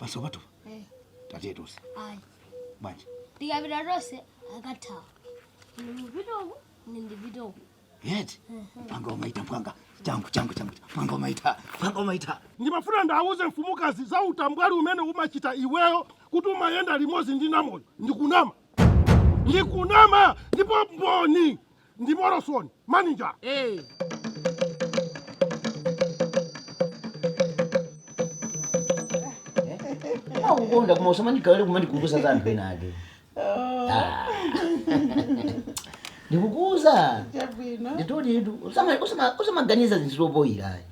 Basopotu. Eh. Tatiye tose. Ayi. Bwanji. Tikapita tose akathawa. Ndipita uku, ndipita uku. Yeti. Panga umaita panga. Changu changu changu. Panga umaita. Panga umaita. Ndimafuna ndauze mfumukazi za utambwali umene umachita iweyo kuti umayenda limodzi ndi Namoyo. Ndikunama. Ndikunama ndipo mboni. ndi Morrison manager Eh. akukonda koma usamandigaire kumandikukuza za anthu ena ake Ah. ndikukuuza Chabwino. nditolitu usamaganiza zinthu zopoyira ayi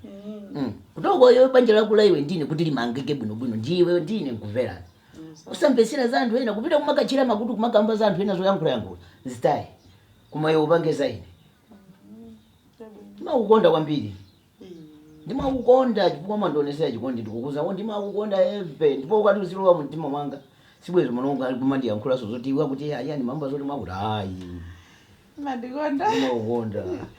kutoko iwe banja lako la iwe ndine kuti limangike bwinobwino ndi iwe ndine nkumverana usamvetsera za anthu ena kupita kumakatchera makutu kumakamba za anthu ena zoyankhulayankhula zitaye koma iwe upange za ine ndimakukonda kwambiri ndimakukonda chifukwa mmandionetsera chikondi ndikukuuza ndimakukonda heavy ndipo ukati uzilowa mu mtima mwanga sibwezi mulungu ali kumandiyankhulanso zoti iwe akuti ayani mambo zoti mwakuti ayi mandikonda ndimakukonda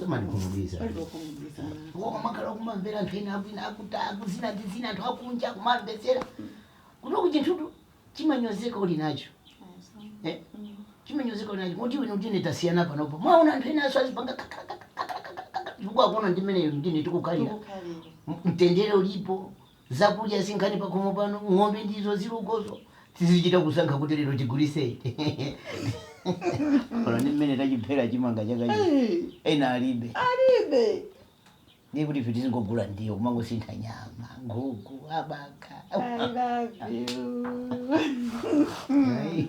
samandikhumudwisa palibe okhumudwisa mwana wanga. koma makhala kumamvera anthu ena akwina akuta akuzina ndi zina anthu akunja kumamvetsera kunoku chinthutu chimanyozeka uli nacho Eh? chimanyozeka uli nacho kuti iwe ndine tasiyana panopo muwaona anthu ena aso azipanga chifukwa akuona ndi mmene iwe ndine tikukhalira Tikukhalira. M- mtendere ulipo Zakudya si nkhani pakhomo pano ng'ombe ndizo zili ukozo tizichita kusankha kuti lero tigulise iti olo ndi mmene tachiphera chimanga chaka chino Hey, ena alibe alibe. ndiye kuti ife tizingogula ndiwo kumangosintha nyama nkhuku abakha I love you. Ayi.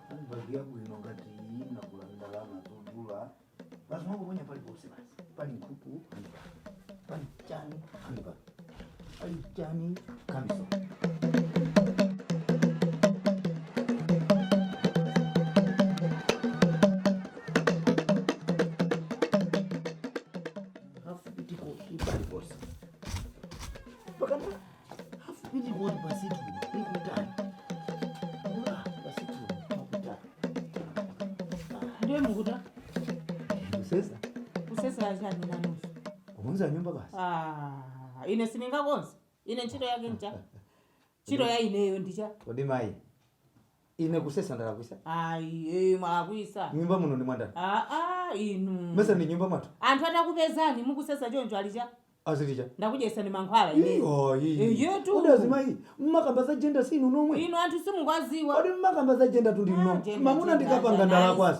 Mbali yako ino ngati iyi nakula ndalama zodula basi mwangu mwenye pali bose basi pali nkuku hanipa pali chani hanipa pali chani kamiso hafu pitiko ipali bose pakana ndiye mukuta Kusesa kusesa chani nanuso kukonza nyumba basi. Ah, ine siningakonze ine ntchito yake ncha ntchito ya ineyo ndicha Kodi mai. Ine kusesa ndalakwisa? Ayi, ee, mwalakwisa. Mnyumba muno ndi mwa ndani? Aa, inu. Mesa ndi mnyumba mwathu? Anthu atakupezani mukusesa choncho ali cha? Aziti cha? Ndakudyesani mankhwala ine? Ii, ayi. Eyetu. Kodi azimayi, mmakamba za gender si inu nomwe? Inu anthu simukwaziwa. Kodi mmakamba za gender tu ndi inu Ah, nomwe? gender, Mamuna gender, ndikapanga gender, ndalakwanji.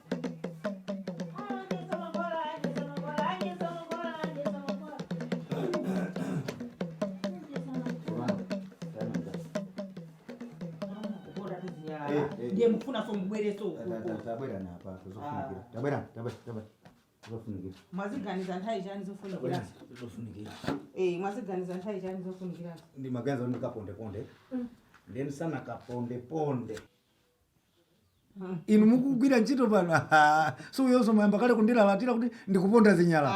ndiye mufunaso mubwereso uku tabwera apa zofunikira tabwera tabwera tabwera zofunikira mwaziganiza nthawi yanji zofunikira zofunikira eh mwaziganiza nthawi yanji zofunikira ndimaganiza ndikaponde ponde nde msana kaponde ponde inu mukugwira ntchito pano aha, so uyonso mayamba kale kundilalatira kuti ndikuponda zinyala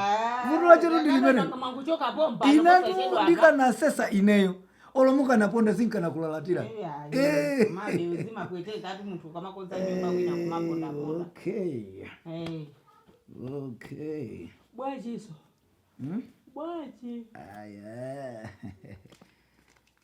vuto lachetu ndi limene mwangochoka bomba inatu ndikanasesa ineyo olo mukanaponda zinkanakulalalatira Eh. mmene zimapweteka ati munthu ukamakonza nyumba wina kumaponda ponda okay Eh, okay bwanjiso Hmm? bwanji aya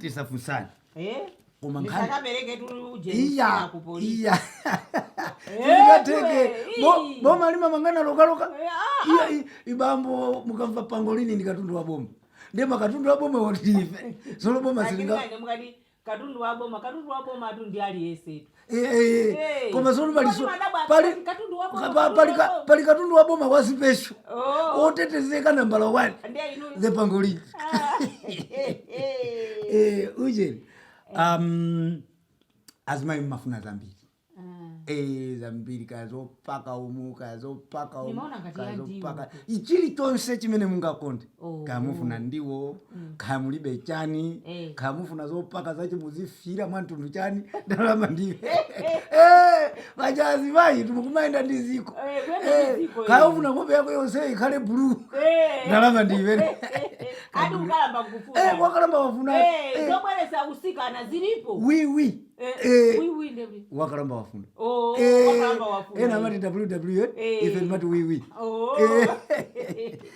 tisafunsane Eh? Koma nkhani- Ndisakabereketu uje iya msana ku polisi. iya Eh, ndikatenge iwe, Bo- ii. boma limamangana lokaloka Eh, ah, iya i- ibambo mukamva pangolini ndi katundu wa boma ndiye makatundu wa boma otife solo boma Lakini silinga kanje mukati katundu wa boma katundu wa bomatu ndi aliyensetu Eh, eh, eh. Eh. koma zoti pali so- Kodi madabwa pali akati katundu wa boma, pa- katundu pali wa ka- boma. pali katundu wa boma wa special Oh. otetezeka nambala 1 Ndiye inu. the pangolini Ah, eh, eh. eh, ujeni um, azimayi mmafuna zambiri Ah. Eh, zambiri kazopaka umu kazopaka umu Nimaona ngati kazopaka ichiri chonse chimene mungakonde Oh. kaya mufuna ndiwo kaya mulibe chani Eh. kaya mufuna zopaka zache muzifira mwantundu chani ndalama ndiwe machazi mayitu mukumayenda ndi dziko Eh, kuyenda ndi Eh, dziko, kaya eh. ufuna nkhope yako yonse ikhale bulu Eh. ndalama ndiwe ati ukalamba Eh, kufuna wakalamba wafuna Eh, eh, zobweresa usikana zilipo wiwi Eh, Eh, wiwi ndevi. wakalamba wafuna Oh, Eh, wakalamba wafuna. ena amati ww Eh. ife timati wiwi Oh. Eh.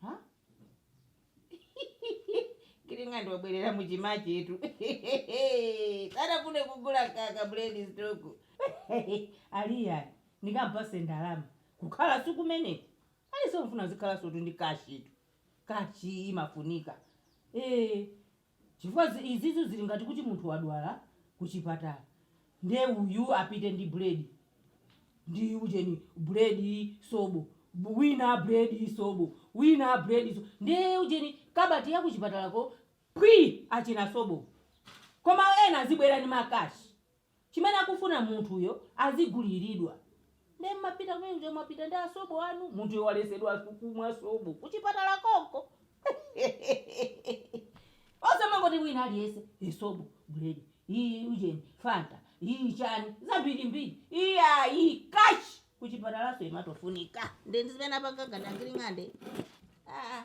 Ha? Kiringa ndi wabwerera mutima chetu. Sanafune kugula ka ka bread stock. Aliya ndikampase ndalama kukhala nkumeneko. Ayi sofuna zikhalansotu ndi kashitu. Kashi imafunika. Eh, chifukwa izizi zili ngati kuti munthu wadwala kuchipatala nde uyu apite ndi bread ndi ujeni bread sobo wina bread sobo wina bread sobo nde ujeni kabati ya kuchipatalako phwii achina sobo koma ena azibwera ndi ma cash. chimene akufuna munthuyo aziguliridwa nde mmapita kumene uja mwapita ndi asobo anu munthuyo walesedwanso kumwa sobo kuchipatala konko osamangoti wina aliyese e sobo buledi ii ujeni fanta ii chani zambirimbiri iyayi cash kuchipatalanso imatofunika nde ndizimene apanga ngati angiling'ande aa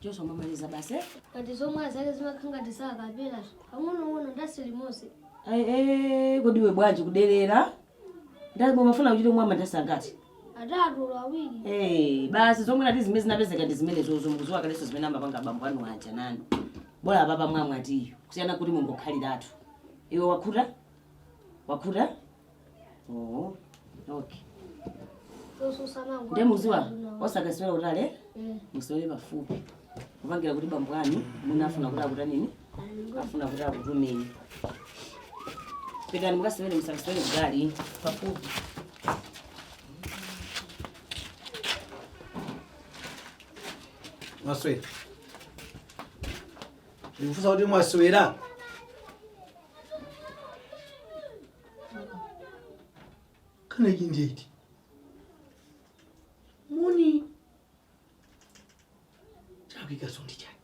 Joshua mwamaliza basi eh? Ngati zomwe azake zimakhangati sakapelazo. Pang'onong'ono ndasi limose. Ai, eh, kodi iwe bwanji kuderera? Ndati umafuna kuchita mwa mandasi angati? Atatu olo awiri. Eh, basi zomwe nati zimene zinapezeka ndi zimenezozo mukuziwa kaleso zimene amapanga abambo anu aja nanu. Bola apapa mwamwa tiyi. Kusiyana kuti mungokhaliratu. Iwe wakhuta? Wakhuta? Oh, okay. Ndiye muziwa osakasewera kutali musewere pafupi kupangira kuti bambo anu mwina afuna kuti akutanini afuna kuti akutumeni pitani mukasewere musakasewere kutali pafupi mwaswera ndikufunsa kuti mwaswera kana iki ndiye iti moni chakuikaso ndi chani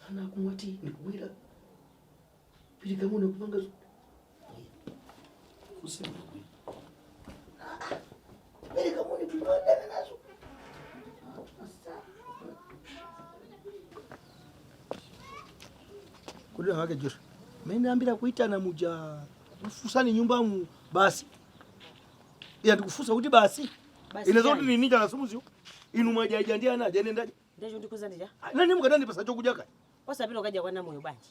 ana akumwa tiyi ndikubwera pilikamuna kupanga zo- kudira wake josha menambira kuitana muja kufusani nyumba mu basi iya ndikufusa kuti basi Basi ineza kuti chani? nini chana simuziwo inu mwajaija ndi ana aja nendaja Ndecho ndikuza ndija. nani mukatandipasa chokudya kaya Osapita ukadya kwa namoyo bwanji.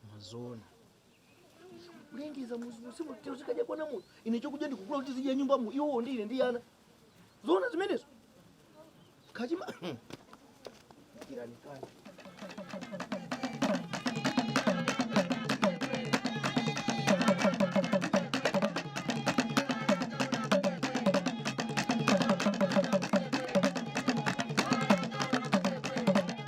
koma zoona kulengeza m'muzimu tikadya kwa munthu ine chokudya ndikugula kuti tizidya nyumbamu iwowo ndi ine ndi ana zoona zimenezo kachima kiranikani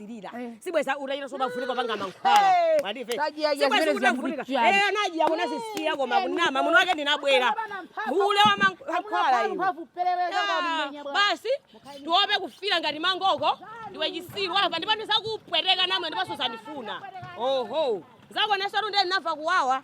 kumasilira eh. sibweza utachita sobavunika panga mankhwala mwadive sibweza kutavunika eh anaji akona sisiya koma kunama muno wake ndinabwera hule wa mankhwala iwe ah, basi tiope kufira ngati mangoko ndiwe chisiru apa ndipo ndizakupweteka namwe ndipo suzandifuna oho zako nasotu nde ndinamva kuwawa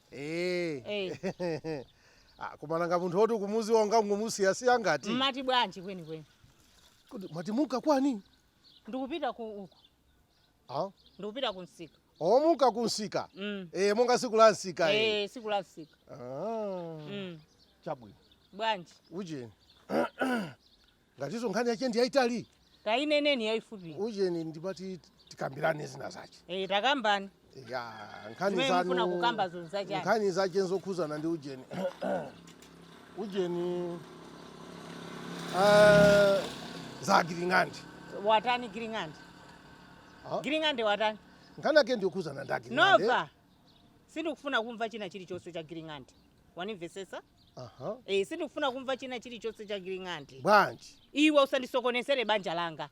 Eh. Eh. Ah, koma nanga munthu woti ukumuziwa ungangomusiya siya ngati mmati bwanji kwenikweni Kodi mwati muka kwani ndikupita uku ah? ndikupita ku msika oh, muka kunsika Mm. eh, monga siku la nsika eh. Eh, siku la msika ah. Mm. chabwino bwanji ujeni Ngatiso nkhani yache ndi yaitali. Taineneni yaifupi. Ujeni ndimati tikambilane zina zache. Eeh takambani. Ya nkhani zanu. Zimene mufuna kukambazo nza chani. Nkhani zache nzokhuzana ndi ujeni. Ujeni. Eeh za Giling'ande. Watani Giling'ande? Giling'ande watani? Nkhani yake ndi yokhuzana ndi Giling'ande. Nova. sindikufuna kumva china chilichonse cha Giling'ande wanimvesesa aha e, sindikufuna kumva china chilichonse cha Giling'ande bwanji iwe usandisokonezere banja langa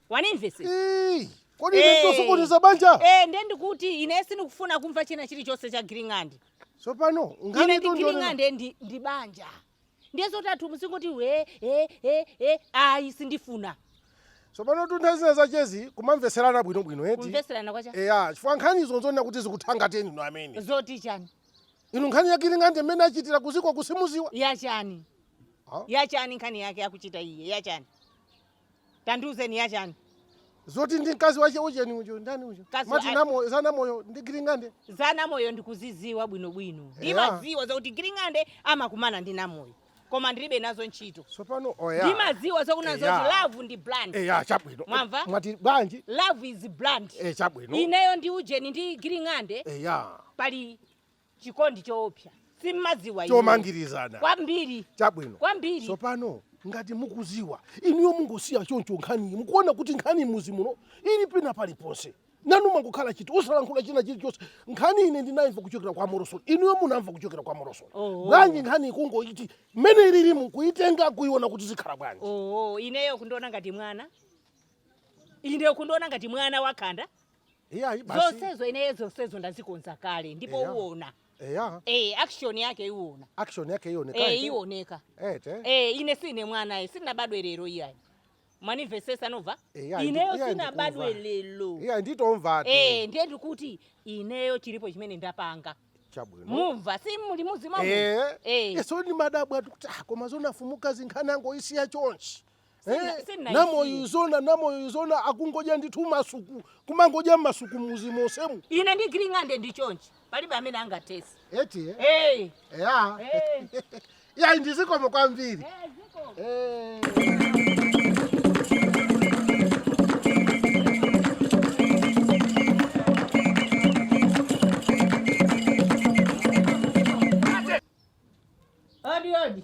wanimvesesa Ii, kodi Eh. nditosokoneza banja e, nde ndikuti ine sindikufuna kumva china chilichonse cha Giling'ande tsopano ine ndi nganitondole Giling'ande ndi, ndi banja ndiye zotatu muzingoti we e e e ayi sindifuna tsopano tuntha zinazachezi kumamvetserana bwinobwino eti kumvetserana kwacha eya chifukwa nkhani izo nzonena kuti zikuthangateni inu amene zoti chani inu nkhani ya Giling'ande mmene achitira kuziko simuziwa yachani Ah. yachani nkhani yake akuchita iye yachani tandiuzeni yachani zoti ndi mkazi wache ujeni ujo ndani ujo Mkazi mati wa- namo za Namoyo ndi Giling'ande za namoyo ndikuziziwa bwinobwino Eya. ndimaziwa zakuti giling'ande amakumana ndi namoyo koma ndilibe nazo ntchito tsopano oya ndimaziwa zokuna Eya. zoti love ndi blind eya chabwino Mwamva? mwati bwanji love is blind e chabwino ineyo ndi ujeni ndi giling'ande eya pali chikondi choopsa simmaziwa inu. chomangirizana kwambiri chabwino kwambiri tsopano ngati mukuziwa inuyo mungosiya choncho nkhaniyi mukuona kuti nkhani m'muzi muno ili pina paliponse nanu mungokhala chete osalankhula china chilichonse nkhani ine ndinayimva kuchokera kwa morosoni inuyo munamva kuchokera kwa morosoni Oh. bwanji nkhani ikungoti mmene ilili mukuitenga kuiona kuti zikhala bwanji oo ineyo kundiona ngati mwana ineyo kundiona ngati mwana wakhanda iyayi basi zonsezo ineyo zonsezo ndazikonza kale ndipo Eya. uona eya e, action yake iwona action yake ione e, iwoneka ete e, ine sine mwana ayi sinabadwe lero iyayi mwandimvesesa Nova Eya, ineyo ndiku- iya, sinabadwe ndikuva. lero iya nditomva tu e, ndiye ndikuti ineyo chilipo chimene ndapanga chabwino mumva si muli muzimva Eh, Eh. so ndimadabwa kuti ah, koma zoona Fumukazi nkhani angoisiya chonchi Sindina- Eh, sindinaisiye. Namoyo uziona Namoyo uziona akungodya ndithu masuku kumangodya masuku muzi wonsewu ine ndi giling'ande ndi chonchi palibe amene angatilese eti eh? hey. ya hey. ya ndizikomo kwambiri hey, ziko. Eh. odi odi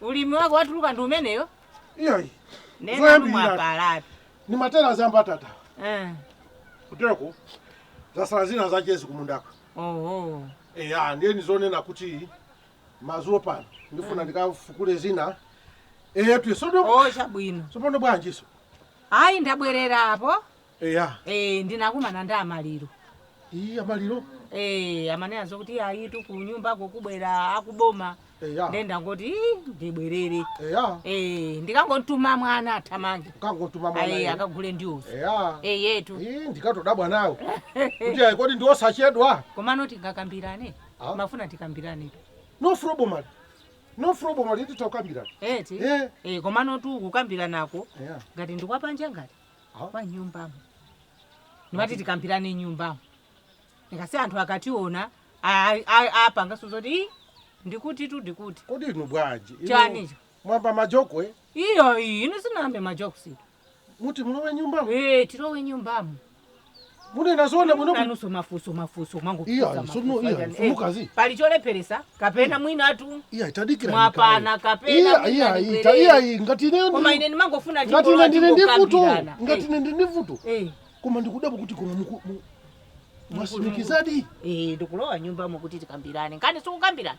Ulimi wako watuluka ndi umeneyo? iyayi Nena Zoyambirira. mwapalatu. ndimatera za mbatata Eh. kutereko zasala zinazachezi kumundaku Oho. eya ndiye ndizinena kuti mazulo pano ndifuna ndikafukule zina eyetu sono Oh, chabwino. sopano bwanjiso Ayi ndabwerera apo. eya Eh, ndinakumana ndi amaliro iyi amaliro Eh, amanena zokuti ayitu ku nyumbako kubwera akuboma eya nde ndangoti "Ii, ndibwerere eya Eh, ndikangotuma mwana athamange ukangotuma ayi mwana akagule ndiwozo eya Eh, yetu iyi ndikatodabwa nawo kuti ayi kodi ndiosachedwa komano tingakambirane Ah. ndimafuna tikambirane no problem ali no problem ali titokambirana eti Eh. Eh, komano tu kukambiranako eya ngati ndikwapanja ngati kwa nyumbamo n'mati tikambirane nyumbamo ndikazi anthu akationa a- a- apangaso zoti "Ii, ndikuti tu ndikuti kodi inu bwanji inu Chanicho? mwayamba majoke eh? iyayi ine sinayambe majokusi muti mulowe nyumbamo ee tilowe nyumbamo munena zoona bwino bwino nanunso mafunso mafunso Iyayi, mangofunsa sono, mafunso iya, achani. Eh, mfumukazi. pali cholepheretsa kapena mwinatu iyayi tadikira Mwapana kapena iya mwina iya ndibwerere. ita iyayi ngati ineyo koma ndili- ine ndimangofuna ngati ine chingolowa ndili ndi vuto chingokambirana. ngati Eh, ine ndili ndi vuto eh, koma ndikudabwa kuti koma muku- mu- mwatsimikizadi eh, ndikulowa nyumbamo kuti tikambirane nkhani sikukambirana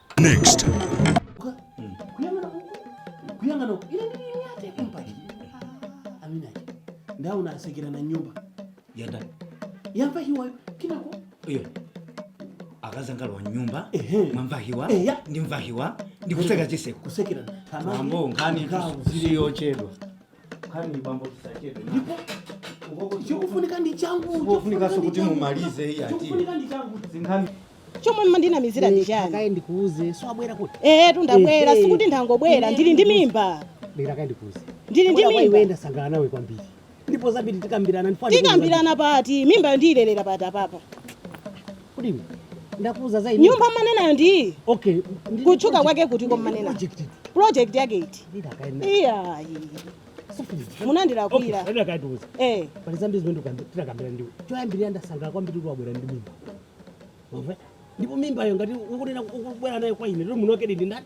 Next. kuyang'ana uku kuyang'ana uku ile ndili yate impaki amina ndaona wasekera na nyumba yanda yambahiwa kinako iyo akasangalala wa nyumba Ehe. mwamvahiwa Eya. ndimvahiwa ndikuseka chiseko kusekera mambo nkhani si yochedwa Nkhani bambo tisachedwe. Ndipo ukoko chikufunika ndi changu. Chikufunikanso kuti mumalize hii ati. Chikufunika ndi changu. Za nkhani chomwe umandinamizira ndi chani kaye ndikuuze so wabwera kuti ehe ndabwera eh, eh. sikuti ndangobwera ndili ndi mimba bwera kaye ndikuuze ndili ndi mimba iwe ndasangalala nawe kwambiri ndipo zambiri tikambirana ndifana tikambirana pati mimbayo ndiyilelera pati apapa Kodi iwe ndakuuza za ine? nyumba mumanenayo ndi iyi Okay. ndi- kutchuka kwake kuti kumanena project. project yake iti Ndida kaena. iyayi Sufundiswa. munandilakwira Okay, ndakuuza. eh pali zambiri zimene ndikukamba- tinakambirana ndiwe choyambirira ndasangalala kwambiri kuti wabwera ndi mimba Wamva? ndipo mimbayo ngati ukunena ukubwera nayo kwa ine lero muno mwake ndi ndani